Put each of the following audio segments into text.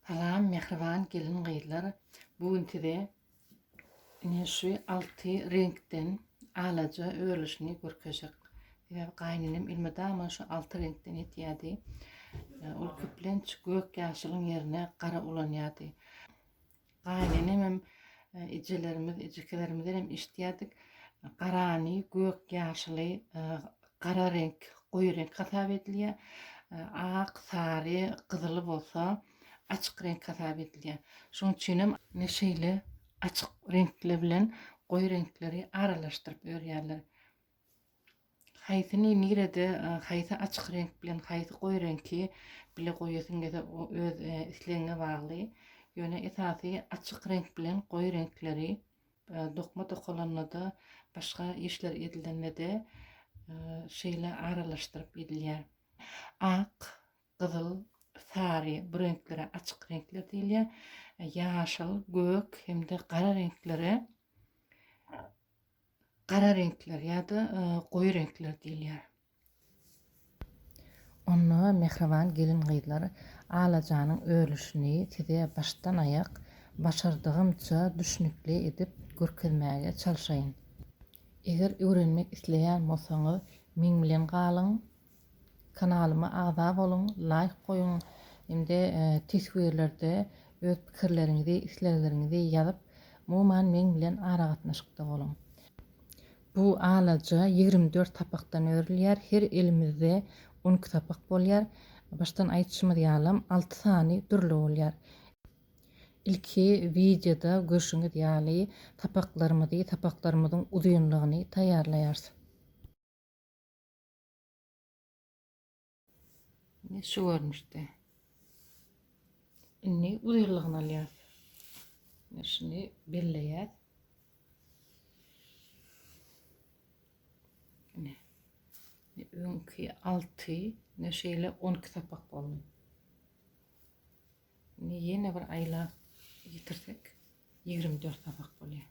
Salam mähriban gelin gyzlar bu gün size ine şu alty reňkden alaja örülişini görkezjek sebäbi gaýynenem elmydama şu alty reňkden etýärdi ol köplenç gök ýaşylyň ýerine gara ulanýardy Gaýynenemem, ejelerimiz, ejekelerimizden hem eşitýärdik. Garany gök, ýaşyly, gara reňk, goýy reňk hasap edilýär. Ak, sary, gyzyly bolsa açyk reňk hasap edilýär. Şonuň üçin hem ine şeýle açyk reňkler bilen goýy reňkleri aralaşdyryp örýärler. Haýsyny nirede haýsy açyk reňk bilen haýsy goýy reňki bile goýasyň gelse o öz islegiňe bagly. Ýöne esasy açyk reňk bilen goýy reňkleri dokma dokalanda-da başga işler edilende-de şeýle aralaşdyryp edilýär. Ak, gyzyl, sary bu reňklere açyk reňkler diýilýär. Ýaşyl, gök hem-de gara reňklere gara reňkler ýa-da e, goýy reňkler diýilýär. Onda mähriban gelin-gyzlar alajanyň örülişini size başdan-aýak başardygymça düşnükli edip görkezmäge çalşaýyn. Eger öwrenmek isleýän bolsaňyz, meň bilen galyň, Kanalyma agza boluň, laýk goýuň hem-de teswirlerde öz pikirleriňizi, islegleriňizi ýazyp, umuman meň bilen aragatnaşykda boluň. Bu alaja ýigrimi dört sapakdan örülýär, her elimizde on iki sapak bolýar. Başdan aýdyşymyz ýalam, alty sany dürli bolýar. Ilki wideoda görşüňiz ýaly, sapaklarymyzy, sapaklarymyzyň uzynlygyny taýýarlaýarys. Indi şu görnüşde. Indi uzynlygyny alýas. Indi şuny belleýäs. Indi öňki 6, indi şeýle 12 sapak boldy. Indi ýene bir aýla ýetirsek 24 sapak bolýar.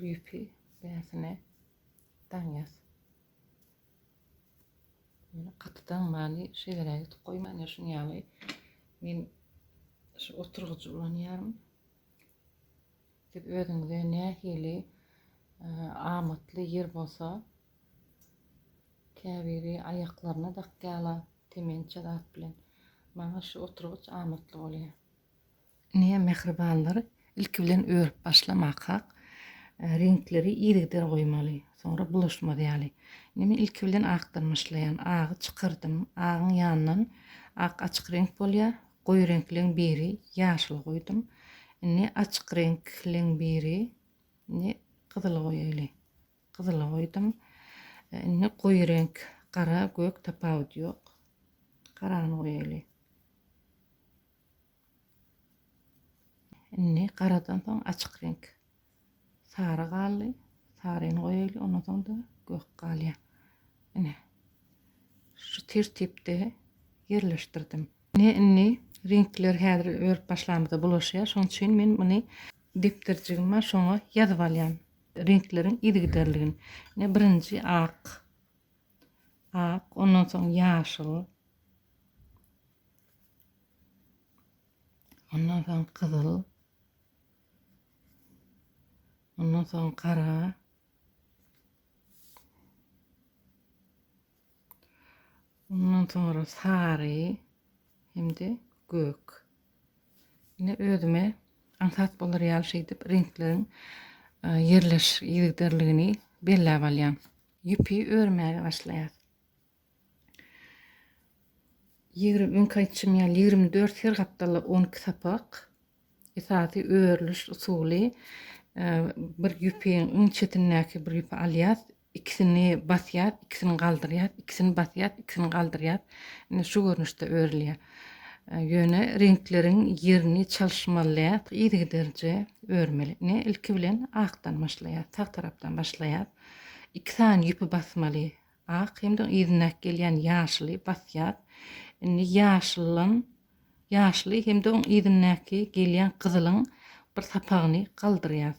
Ýüpi bäsine daňýas. Ýöne gaty daňmany şeýleräk etip goýman, ýa şuny ýaly men şu oturgyjy ulanýaryn. Siz özüňize nähili amatly ýer bolsa, käbiri aýaklaryna dakýala temençe zat bilen. Maňa şu oturgyç amatly bolýar. Ine, mähribanlar, ilki bilen örüp başlamak hak. Reňkleri yzygider goýmaly. Soňra bulaşmaz ýaly. Indi men ilki bilen akdan başlaýan. Agy çykyrdym. Agyň ýanyndan ak açyk reňk bolýar. Goýy reňkleň biri ýaşyl goýdum. Indi açyk reňkleň biri indi gyzyly goýaýly. Gyzyly goýdum. Indi goýy reňk gara, gök tapawudy ýok. Garany goýaýly. Indi garadan soň açyk reňk sary galdy. Saryny goýaýly, ondan soň-da gök galýar. Ine. Şu tertipde ýerleşdirdim. Ine indi reňkler häzir örüp başlamyza bulaşýar. Şonuň üçin men muny depderjigim bar, şoňa ýazyp alýan. Reňkleriň yzygiderligini. Ine birinji ak. Ak, ondan soň ýaşyl. Ondan soň gyzyl. Ondan soň gara. Ondan sonra sary hem-de gök. Ine özüme aňsat bolar ýaly şeýdip reňkleriň e, ýerleş ýerderligini belläp alýan. Ýüpi örmäge başlaýar. Ýigrimi öňki aýtşym ýaly ýigrimi dört her gapdalda on iki sapak. Esasy örülüş usuly bir ýüpiň iň çetindäki bir ýüpi alýas, ikisini basýas, ikisini galdyrýas, ikisini basýas, ikisini galdyrýas. Ine şu görnüşde örülýär. Ýöne reňkleriň ýerini çalyşmaly däl, yzygiderje örmeli. Ine ilki bilen akdan başlaýas, sag tarapdan başlaýas. Iki sany ýüpi basmaly. Ak himdiň yzyndaky gelýän ýaşuly basýas. Indi ýaşulyň, ýaşuly himdiň yzyndaky gelýän gyzylyň bir sapagyny galdyrýas.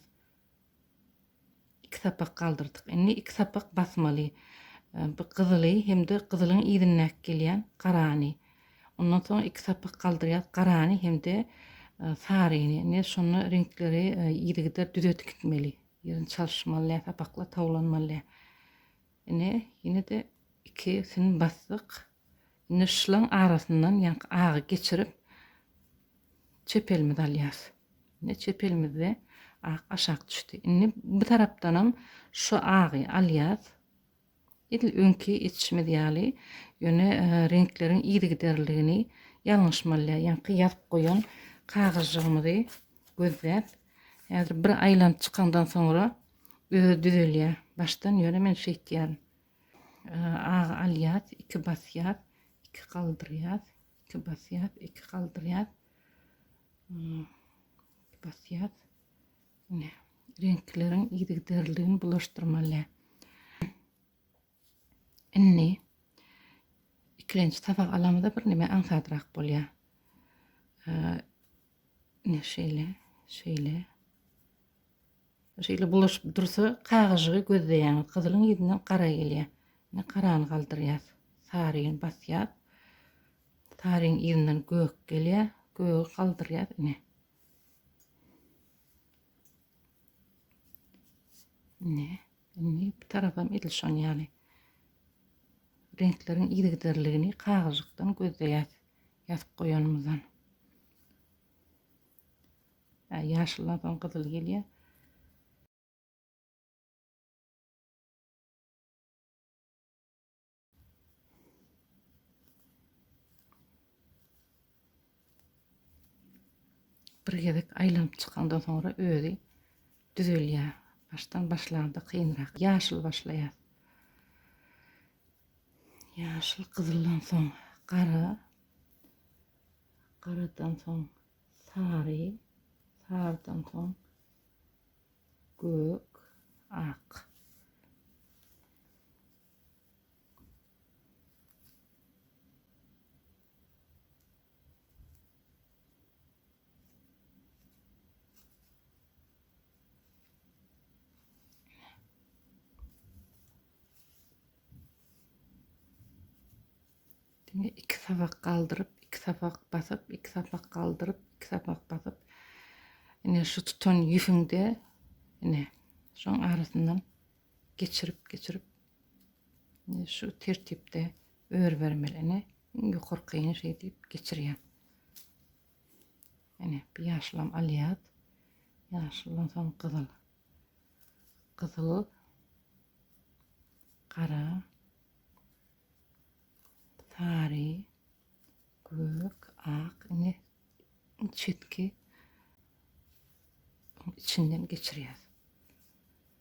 Iki sapak galdyrdyk. Indi iki sapak basmaly. Bu gyzyly himdi gyzylyň yzyndaky gelýän garany. Ondan soň iki sapak galdyrýas garany himdi saryny. Indi şonda reňkleri yzygider düzedip gitmeli. Ýerini çalyşmaly, sapaklar towlanmaly. Ine, ýene-de ikisini basdyk. Indi şlaň arasyndan ýaňky agy geçirip, çep elimizi alýas. Ine, çep elimizde ak aşak düşdi. Indi bu tarapdanam şu agy alýas. Edil öňki etişimiz ýaly, ýöne reňkleriň yzygiderligini ýalňyşmalýar. Ýaňky ýazyp goýan kagyzjygymyzy gözläp, häzir bir aýlanyp çykandan soňra Özi düzelýä. Başdan ýöne men şeýtýärin. Agy alýas, iki basýas, iki galdyrýas, iki basýas, iki galdyrýas. Iki basýas. Ine, reňkleriň yzygiderligini bulaşdyrmaly. Indi ikilenji tabak alamyza bir neme aňsadrak bolýa. Ne şeýle, şeýle. Şeýle bulaşyp dursa, kagyjygy gözleýän gyzylyň ýüzünden gara gelýä. Ne garany galdyrýas. Saryny basýas. Saryň ýüzünden gök gelýä. Gögi galdyrýas ine. Ne? Indi bu tarapam edil şon ýaly. Reňkleriň yzygiderligini kagyzjykdan gözleýäs, ýazyp goýanymyzdan. Hä, ýaşyldan soň gyzyl gelýär. bir gezek aýlanyp çykandan soňra özi düzelýär. Başdan başlarda kynrak. Ýaşyl başlaýar. Ýaşyl gyzyldan soň gara. Garadan soň sary. Sardan soň gök, ak. Diňe iki sapak galdyryp, iki sapak basyp, iki sapak galdyryp, iki sapak basyp. Ine şu tutan ýüfüňde ine şoň arasyndan geçirip geçirip indi şu tertipde örübermeli ine iň ýokarkyny şeý diýip geçirýän ine bir ýaşylam alýat ýaşyldan soň gyzyl gyzyl gara sary gök ak ine çetki içinden geçirýär.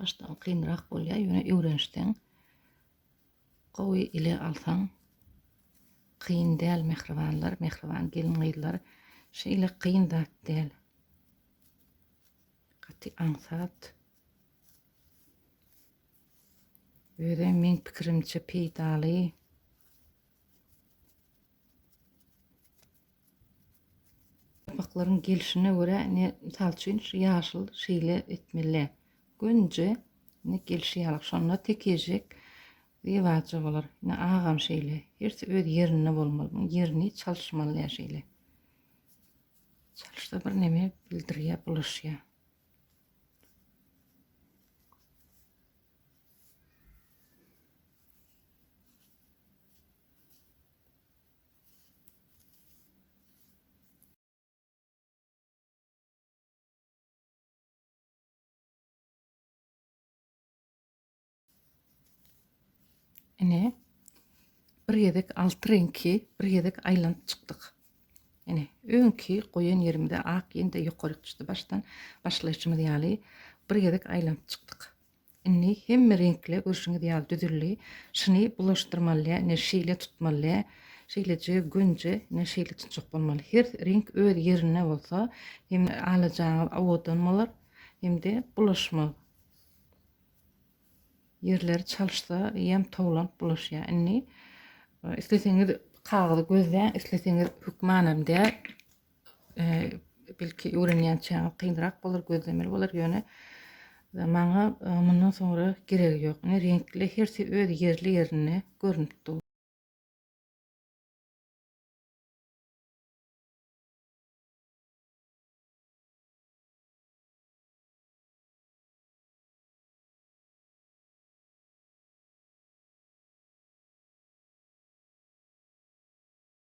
Başdan kynrak bolýar, ýöne öwrenişseň gowy ile alsaň kyn däl mähribanlar, mähriban gelin gyzlar. Şeýle kyn zat däl. Gaty aňsat. Öde men pikirimçe peýdaly. Ýaplaklaryň gelşine görä indi mysal üçin şu ýaşyl şeýle etmeli. Gönje indi gelşi ýaly şonda tekejik zeýwaja bolar. Indi agam şeýle. Hersi öz ýerinde bolmaly. Muň ýerini çalyşmaly ýa şeýle. Çalyşsa bir neme bildirýä, bulaşýa. Ine bir gezek altı reňki bir gezek aýlanyp çykdyk. Ine öňki goýan ýerimde ak ýene-de ýokaryk çykdy başdan başlaýşymyz ýaly bir gezek aýlanyp çykdyk. Indi hemme reňkli görşüňiz ýaly düzüldi. Şuny bulaşdyrmaly, ine şeýle tutmaly. Şeýleje gönje ine şeýle tutjak bolmaly. Her reňk öz ýerinde bolsa, hem alajaňyz owadan bolar, hem-de bulaşmaz. Ýerleri çalyşsa, ýem towlanyp bulaşýar. Indi isleseňiz kagyzy gözläň, isleseňiz hökmanam däl. Belki öwrenýänçäňiz kynrak bolar, gözlemeli bolar, ýöne maňa mundan soňra geregi ýok. Ine reňkli hersi öz ýerli ýerinde görnüp dur.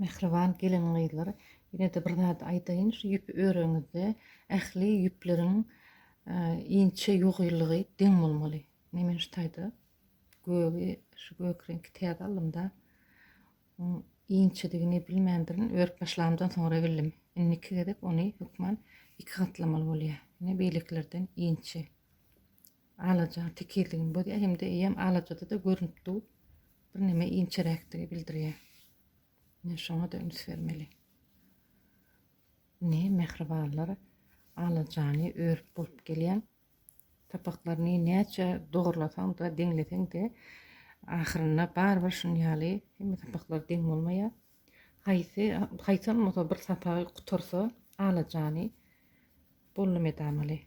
Mähriban gelin-gyzlar, ýene-de bir zat aýdaýyn, şu ýüpi öreňizde ähli ýüpleriň inçe ýugylygy deň bolmaly. Ine, men şu taýda gögi, şu gök reňki täze aldym-da. Oň inçedigini bilmändirin, örüp başlamdan soňra bildim. Indi iki gezek ony hökman iki gatlamaly bolýar. Ine beýlekilerden inçe. Alaja tekizligini bozýar hem-de eýýäm alajada-da görnüp dur. Birneme inçeräkdigi bildirýär. Ine şoňa-da üns bermeli. Ine mähribanlar alajany örüp bolup gelýän Sapaklaryny näçe dogurlasaň-da, deňleseň-de, ahyrynda barybir şuny ýaly hemme sapaklar deň bolmaýar. Haýsy, haýsy bolmasa bir sapagy gutarsa, alajany bollum edamaly.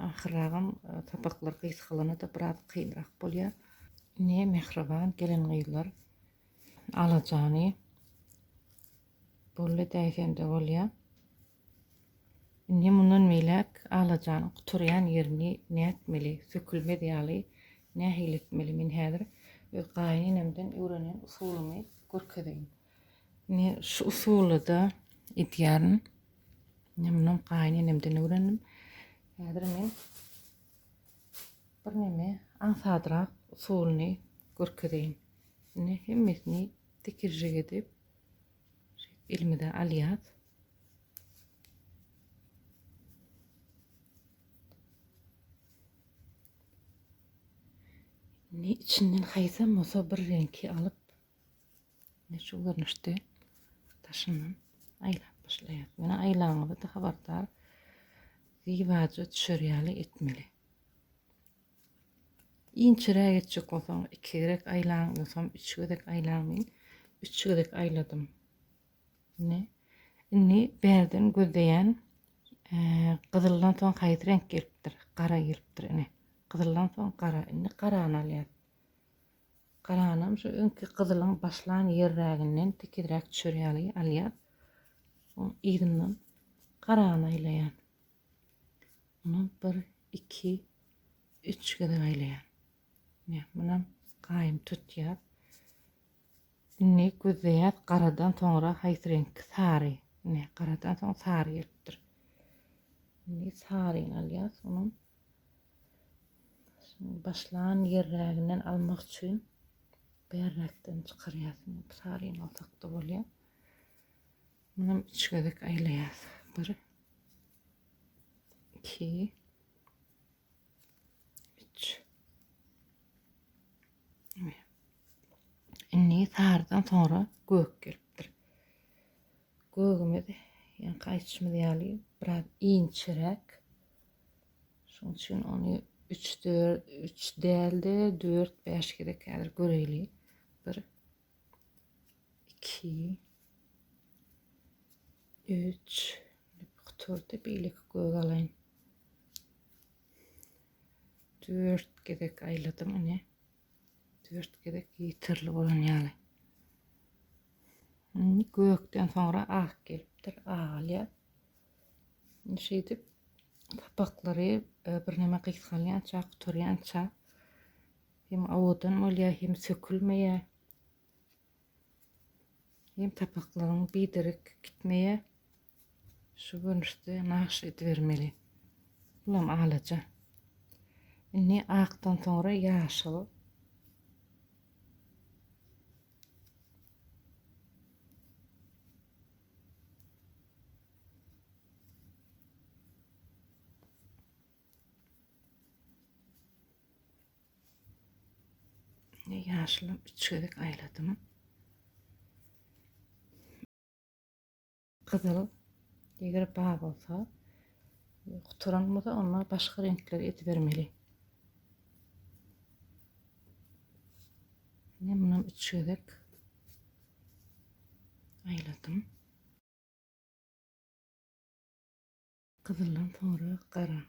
Ahyrragam sapaklar gysgalana-da biraz kynrak bolýar. Ine, mähriban gelin-gyzlar alajany boldy däýsem-de bolýar. Indi mundan beýläk alajanyň gutarýan ýerini nätmeli, sökülmez ýaly nähili etmeli? Men häzir öz gaýynenemden öwrenen usulymy görkezeýin. Indi şu usulyda edýärin. Indi muny gaýynenemden öwrendim. Häzir men birneme aňsadrak usulyny görkezeýin. Indi hemmesini tikirjik edip elimize alýas. Indi içinden haýsam bolsa bir reňki alyp Ine şu görnüşde daşyndan aýlap başlaýar. Ýöne aýlaňyzy da habardar gibaja düşer ýaly etmeli. Inçeräk etjek bolsaň, iki gerek aýlaň, ýogsam üç gezek aýlaň. Men üç gezek aýladym. Ine. Indi bärden gözleýän e, gyzyldan soň haýsy reňk gelipdir? Gara gelipdir ine. Gyzyldan soň gara. Indi garany alýar. Galanam şu öňki gyzylyň başlan ýerräginden tekizräk düşer ýaly alýan. Oň yzyndan garany aýlaýan. Muny bir, iki, üç gezek aýlaýan. Ne, munam gaýym tutýar. Indi gözleýär, garadan soňra haýsy reňk? Sary. Ne, garadan soň sary gelipdir. Indi saryny alýas, onuň Şuny başlan ýerräginden almak üçin bärräkden çykarýas. Saryny alsak-da bolýar. Muny üç gezek aýlaýas. Bir, iki, üç. Indi sarydan soňra gök gelipdir. Gögümiz, ýaňky aýtşymyz ýaly, biraz inçeräk. Şonuň üçin ony üç dört üç dälde dört bäş gezek häzir göreýli. Bir iki üç kuturdy beýleki göz alaýyn. Dört gezek aýladym ine. Dört gezek ýitirili bolan ýaly. Indi gökden soňra ak gelipdir, agylýar. Indi şeýdip sapaklary e, birneme gysgalýança, gutarýança hem awadan bolýar, hem sökülmeýär. Hem sapaklaryň biderek gitmeýär. Şu görnüşde nagşy edibermeli. Bulam alaja. Indi akdan soňra ýaşyl. Indi ýaşyly üç gezek aýladym. Gyzyl eger bar bolsa, gutaran bolsa onda başga reňkleri edibermeli. Indi mundan üç gezek aýladym. Gyzyldan soňra gara.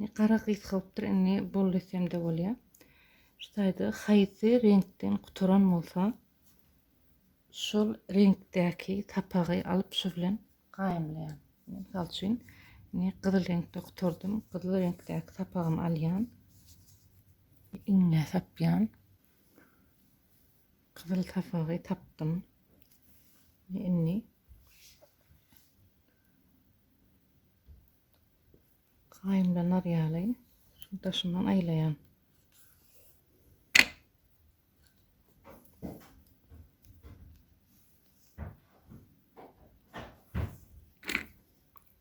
Ne gara gysgalypdyr, indi bol desemde bolýar. Şu taýda haýsy reňkden gutaran bolsa, şol reňkdäki sapagy alyp şu bilen gaýymlaýan. Mysal üçin, indi gyzyl reňkde gutardym, gyzyl reňkdäki sapagymy alýan. Iňňä sapýan. Gyzyl sapagy tapdym. Indi gaýymlanar ýaly şu daşyndan aýlaýan.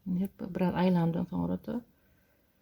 Indi biraz aýlandan soňra da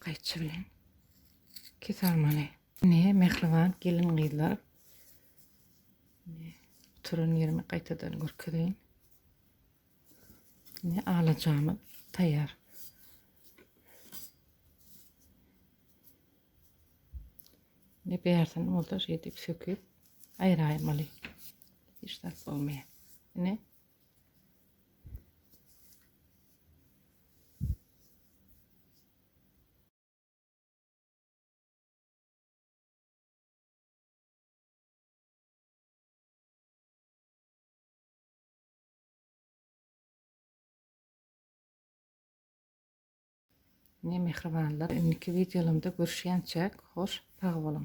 Gaýçy bilen iki sarmaly. Ne mehriban gelin gyzlar. Ne oturan yerimi gaýtadan görkezeýin. Ne alajamy taýýar. Ne bärsin bolsa şeýdip söküp aýraýmaly. Hiç zat bolmaýar. Ne Mine mähribanlar indiki wideolarymda görüşýänçäk hoş sag boluň.